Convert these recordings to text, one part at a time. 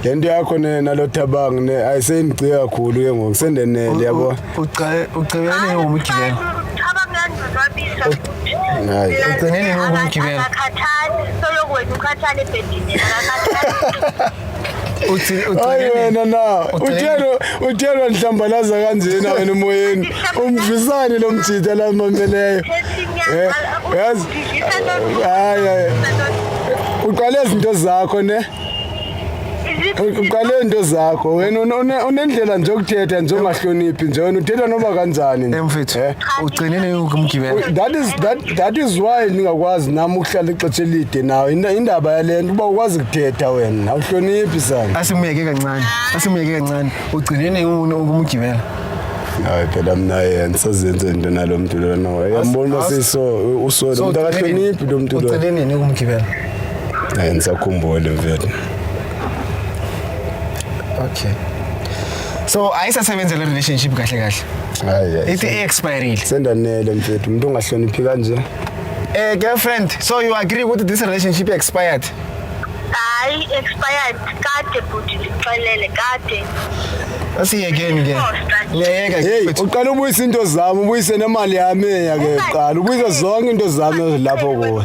le nto yakho nalothabangi ne ayi seyinigciye kakhulu ke ngoku sendenele yabo ugcibeleni ngomgibelo hayi ugcineni ngomgibelo wena na uthelwa uthelwa nhlambalaza kanjena wena emoyeni umvisane lo mjita la mameleyo eh, yazi hayi uqale izinto zakho ne uqale into zakho wena unendlela nje okuthetha nje ongahloniphi nje wena uthetha noma kanjani nje mfethu eh? ugcinile ukumgibela that is that that is why ningakwazi nami ukuhlala ixesha elide nawe indaba yalento uba ukwazi kuthetha wena awuhloniphi sana asimuyeke kancane asimuyeke kancane ugcinile ukumgibela hayi phela mina yena sazenze into nalo mntu lona yambona siso usona umuntu akahloniphi lo mntu lona uceleni yini ukumgibela Eh ngisakhumbule mfethu. Okay. So ayisasebenza le relationship kahle kahle. Hayi. Ithi expired. Sendanele mfethu umuntu ongahloniphi kanje. Eh girlfriend, so you agree with this relationship expired? Hayi expired kade bhuti lixelele kade. Asiyekeni ke. Ngiyayeka Hey, mfethu. uqala ubuyisa into zami, ubuyise nemali yami eya ke uqala. Ubuyisa zonke into zami lapho kuwe.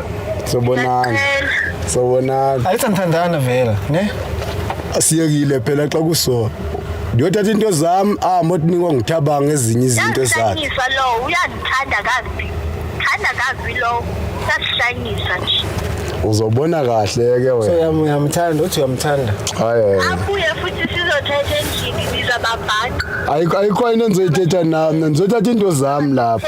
sobonana sobonana ayithi anithandana vela ne asiyekile phela xa kusona ndiyothatha into zami ahambe otinikwa ngithabanga ezinye izinto zakhe lo uyandithanda kazi thanda kazi lo sasishanyisa nje uzobona kahle ke wena uyamthanda uthi uyamthanda hayi abuye futhi sizothetha endlini nizababhanqa ayikho ayikho into endizoyithetha nami ndizoyithatha into zami lapho